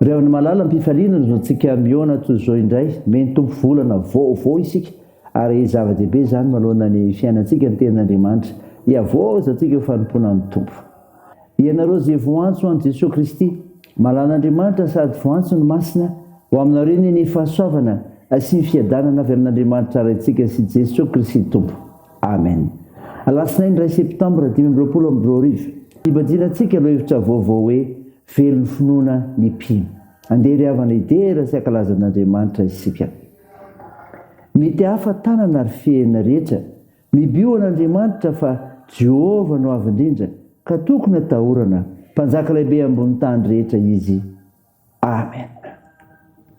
Ry havana malala mpifaliana izao tsika mihaona toy izao indray me ny Tompo volana vaovao isika ary zava dehibe izany maloana ny fiainantsika ny tenin Andriamanitra hiavaozantsika eo fanompoana ny Tompo ianareo ze voantso any Jesoa Kristy malan Andriamanitra sady voantso ny Masina ho aminareo ny ny fahasoavana sy ny fiadanana avy amin Andriamanitra Raintsika sy Jesoa Kristy Tompo Amen Alatsinainy iray Septambra dimy amby roapolo amby roa arivo Hibadina tsika aloha hevitra vaovao hoe Very ny finoana ny mpino. Andeha ry havana hidera sy hankalaza an'Andriamanitra isika. Mety hafa tanana ary fehina rehetra. Mibio an'Andriamanitra fa Jehovah no avo indrindra ka tokony atahorana. Mpanjaka lehibe ambony tany rehetra Izy. Amen.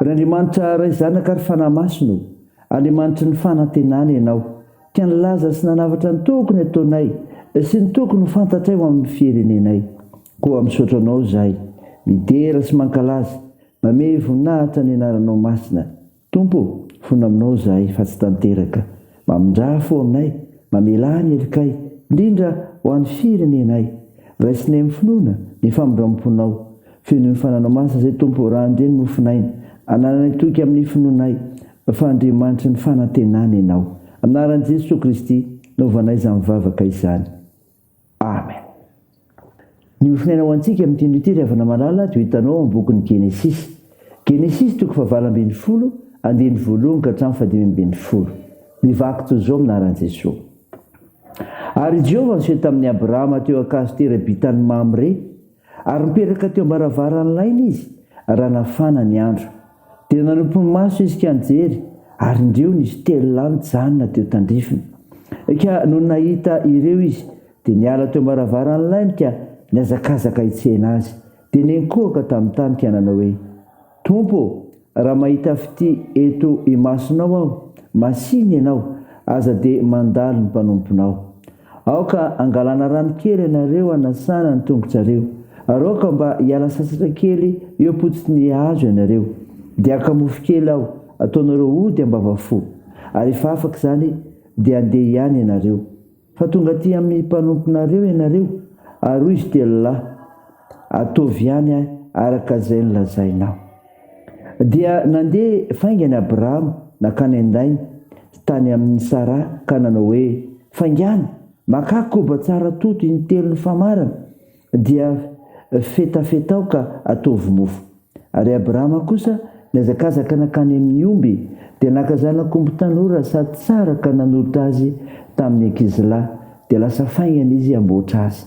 Ry Andriamanitra Ray Zanaka ary Fanahy Masina ô, Andriamanitry ny fanantenana Ianao ka nilaza sy nanavatra ny tokony ataonay sy ny tokony ho fantatray ho amin'ny firenenay. Koa misaotra Anao izahay, midera sy mankalaza, mamehy voninahitra ny Anaranao Masina. Tompo ô, fona aminao izahay fa tsy tanteraka. Mamindrà fo aminay, mamelà ny helokay, indrindra ho an'ny firenenay. Raisinay amin'ny finoana ny famindram-ponao. Feno ny fananao masina izay Tompo ô, raha andeha ny mofon'aina. Anananay toky amin'ny finoanay fa Andriamanitry ny fanantenana Ianao. Amin'ny anaran'i Jesoa Kristy no vanaizan'ny vavaka izany. Amen. Ny hofonaina ho antsika amin'ity andro ity ry havana malala dia ho hitanao ao amin'ny bokin'ny Genesisy. Genesisy toko fahavalo ambin'ny folo, andininy voalohany ka hatramin'ny fahadimy ambin'ny folo. Mivaky toy izao amin'ny anaran'i Jesoa. Ary i Jehovah niseho tamin'i Abrahama teo an-kazo tera-bitan'i Mamre, Ary nipetraka teo am-baravaran'ny lainy izy raha nafana ny andro. Dia nanopy ny maso izy ka nijery, ary indreo nisy telo lahy nijanona teo tandrifiny. Ka nony nahita ireo izy, dia niala teo am-baravaran'ny lainy ka nihazakazaka hitsena azy. Dia nenkohoka tamin'ny tany ka nanao hoe. Tompo ô, raha mahita fitia eto imasonao aho, masìny Ianao, aza dia mandalo ny mpanomponao. Aoka hangalana rano kely ianareo hanasana ny tongotsareo, ary aoka mba hiala sasatra kely eo am-potsitry ny hazo ianareo. Dia haka mofo kely aho, hataonareo ody am-bavafo. Ary rehefa afaka izany, dia handeha ihany ianareo. Fa tonga aty amin'ny mpanomponareo ianareo, ary hoy izy telo lahy, Ataovy ihany araka izay nolazainao. Dia nandeha faingana Abrahama nankany an-dainy, tany amin'i Saraha, ka nanao hoe, Faingàna, makà koba tsara toto intelo nifamarana, Dia fetafetao ka ataovy mofo. Ary Abrahama kosa nihazakazaka nankany amin'ny omby, dia naka zanak'omby tanora sady tsara ka nanolotra azy tamin'ny ankizilahy, dia lasa faingana izy hamboatra azy.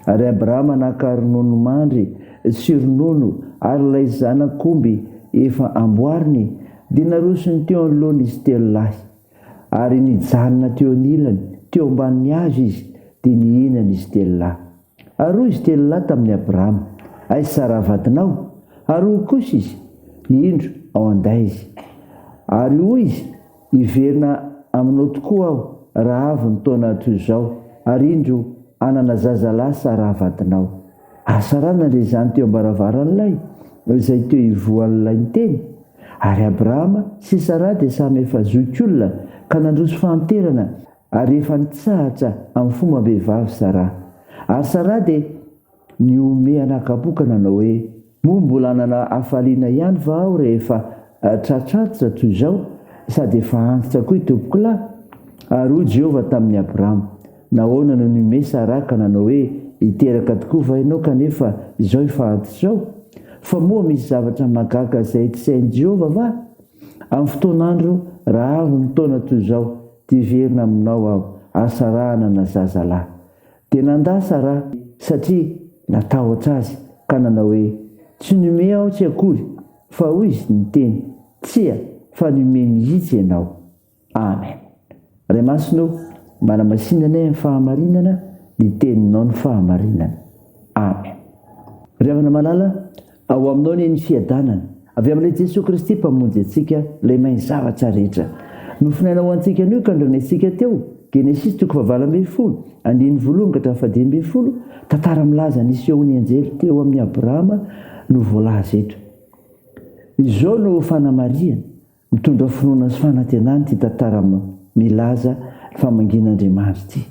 Ary Abrahama naka ronono mandry sy ronono ary ilay zanak'omby efa amboariny, dia narosony teo anoloany izy telo lahy. Ary nijanona teo anilany, teo ambanin'ny hazo izy, dia nihinana izy telo lahy. Ary hoy izy telo lahy tamin'i Abrahama, Aiza Saraha vadinao? Ary hoy kosa izy, Indro, ao an-day izy. Ary hoy izy, Hiverina aminao tokoa aho, raha avy ny taona toy izao, ary indro, hanana zazalahy Saraha vadinao. Asarana ilay zany teo am-baravaran'ilay izay teo ivoahan'ilay niteny, ary Abrahama sy Saraha dia samy efa zokiolona ka nandroso fahanterana ary efa nitsahatra amin'ny fombam-behivavy Saraha. Ary Saraha dia nihomehy anakam-po ka nanao hoe, Moa mbola hanana hafaliana ihany va aho rehefa tratr'antitra toy izao, sady efa antitra koa i tompokolahy? Ary hoy Jehovah tamin'i Abrama, Nahoana no nimesa ra ka nanao hoe, 'Hiteraka tokoa va ianao kanefa izao efa antitra izao? Fa moa misy zavatra mahagaga izay tsy hain'i Jehovah va? Amin'ny fotoan'andro rahavon'ny taona toy izao, dia hiverina aminao aho, hahasarahana ana zazalahy. Dia nandà Sarah satria natahotra azy ka nanao hoe, Tsy nomea aho tsy akory, fa hoy izy niteny, Tsia, fa nomea mihitsy ianao. Amen. Ray Masina ô, manamasinanay amin'ny fahamarinana ny Teninao ny fahamarinana. Amen. Ry havana malala, Ao aminao anie ny fiadanana. Avy amin'ilay Jesoa Kristy Mpamonjy antsika, ilay mahay ny zavatra rehetra. Nofinaina ho antsika anio ka andrenesintsika teo, Genesisy toko fahavalo ambin'ny folo, andininy voalohany ka hatramin'ny fahadimy ambin'ny folo, tantara milaza ny hisehoan'ny anjely teo amin'i Abrahama no voalaza eto. Izao no fanamarihana. Mitondra finoana sy fanantenana ity tantara milaza fa mangin'Andriamanitra ity.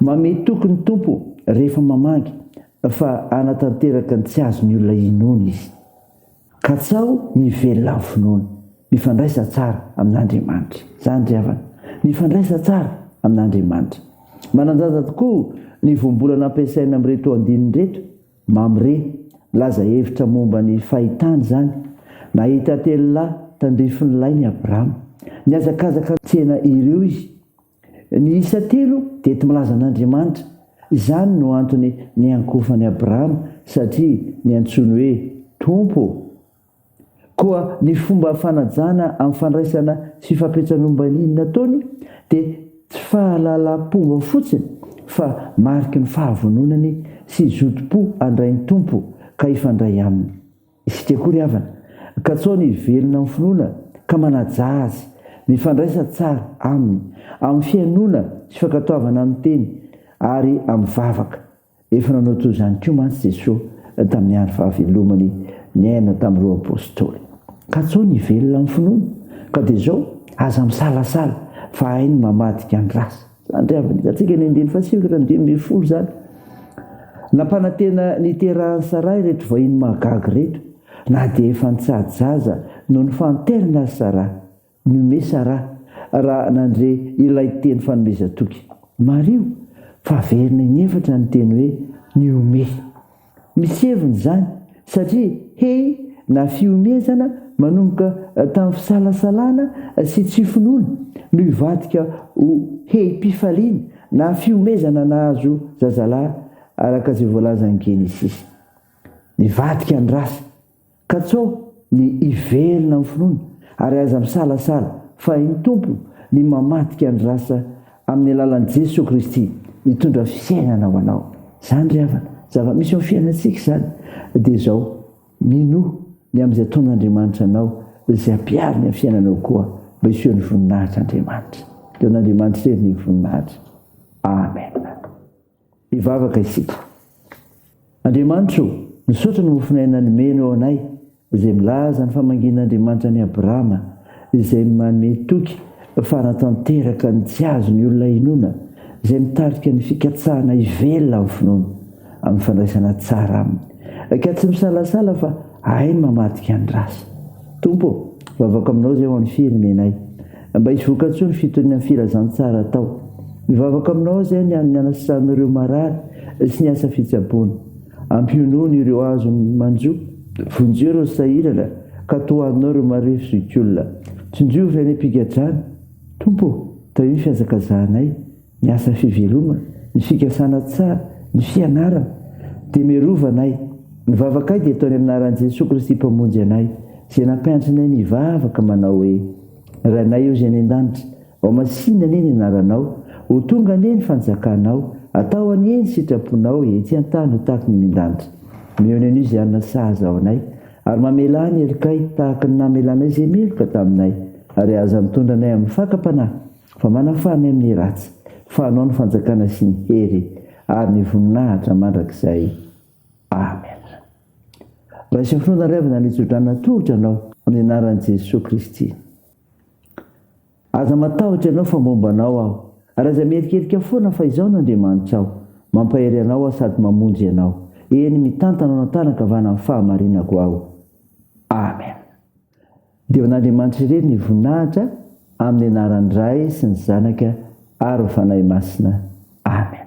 Mamehy toky ny Tompo rehefa mamangy fa hanatanteraka ny tsy azon'ny olona inoana Izy. Katsaho ny hivelona amin'ny finoana. Mifandraisa tsara amin'Andriamanitra. Izany ry havana. Mifandraisa tsara amin'Andriamanitra. Manan-danja tokoa ny voambolana ampiasaina amin'ireto andininy ireto. Mamre, Laza hevitra momba ny fahitany izany, Nahita telo lahy tandrifin'ny lainy i Abrama. Nihazakazaka nitsena ireo izy. Ny isa telo dia tmilaza an'Andriamanitra. Izany no antony niankofan'i Abrama satria niantsoiny hoe Tompo. Koa ny fomba fanajana amin'ny fandraisana sy fampiantsanom-baniny nataony dia tsy fahalalam-pomba fotsiny fa mariky ny fahavononany sy zotom-po handray ny Tompo ka hifandray Aminy. Isika koa ry havana, katsao ny hivelona amin'ny finoana ka manaja Azy, mifandraisa tsara Aminy amin'ny fihainoana sy fankatoavana amin'ny teny ary amin'ny vavaka. Efa nanao toy izany koa mantsy Jesosy tamin'ny andro fahavelomany niaina tamin'ireo apostoly. Ka tsao ny hivelona amin'ny finoana. Ka dia izao, aza misalasala fa hainy ny mamadika ny ratsy. Izany indray avy hitantsika ny andininy fahasivy ka hatramin'ny dimy ambin'ny folo izany. Nampanantena ny hiterahan'i Saraha ireto vahiny mahagaga ireto, na dia efa nitsahadzaza noho ny fahanterana aza Saraha. Nomé Sarah raha nandre ilay teny fanomezan-toky. Mariho fa averina inefatra ny teny hoe nihomehy. Misy heviny izany satria hehy na fihomehezana manomboka tamin'ny fisalasalana sy tsy finoana no hivadika ho hehim-pifaliana na fihomehezana nahazo zazalahy araka izay voalazan'ny Genesisy. Nivadika ny rasa. Katsaho ny hiverina amin'ny finoana ary aza misalasala fa hain'ny Tompo ny mamadika ny rasa amin'ny alalan'i Jesoa Kristy hitondra fiainana ho anao. Izany ry havana, zava-misy eo amin'ny fiainantsika izany. Dia izao, minoa ny amin'izay ataon'Andriamanitra anao izay hampihariny amin'ny fiainanao koa mba hisehoan'ny voninahitr'Andriamanitra. Dia ho an'Andriamanitra irery ny voninahitra. Amen. Hivavaka isika. Andriamanitro o, misaotra ny mofon'aina nomenao anay izay milaza ny famangian'Andriamanitra an'i Abrahama izay manome toky fara tanteraka ny tsy azon'ny olona hinoana izay mitarika ny fikatsahana hivelona amin'ny finoana amin'ny fandraisana tsara aminy ka tsy misalasala fa Hay ny mamadika ny rasa. Tompo ô! Vavaka aminao izay ho an'ny firenenay. Mba hisy vokatsoa ny fitoniana ny filazantsara atao. Mivavaka aminao izay ny an'ny anasan'ireo marary sy ny asa fitsaboana. Ampionony ireo azony manjo. Vonjeo ireo sahirana ka tohaninao ireo marefo zokiolona. Tsinjo ireo fiainam-pigadrana. Tompo ô! Tahio ny fihazakazahanay. ny asa fivelomana, ny fikasana tsara, ny fianarana, dia miarova anay. Ny vavakay dia ataony amin'ny anaran'i Jesoa Kristy Mpamonjy anay, izay nampiantso anay ny hivavaka manao hoe, Rainay Ozy any An-danitra, ao masina anie ny anaranao, ho tonga anie ny fanjakanao, atao anie ny sitraponao etsy an-tany ho tahaka ny any an-danitra. Mihaona an'io izay hanana sazy ao anay, ary mamelà ny helokay tahaka ny namelanay izay meloka taminay, ary aza mitondra anay amin'ny fakam-panahy, Fa manafana amin'ny ratsy, fa anao ny fanjakana sy ny hery ary ny voninahitra mandrakizay. Amen. Raiso finoana ry havana ny hitsodrana tongotra anao amin'ny anaran'i Jesoa Kristy. Aza matahotra ianao fa momba anao aho, ary aza miherikerika foana fa izaho no Andriamanitrao, mampahery anao aho sady mamonjy ianao, eny mitantana anao an-tanan-kavanan'ny fahamarinako aho. Amen. Deon'Andriamanitra irery ny voninahitra amin'ny anaran'ny Ray sy ny Zanaka ary ny Fanahy Masina. Amen.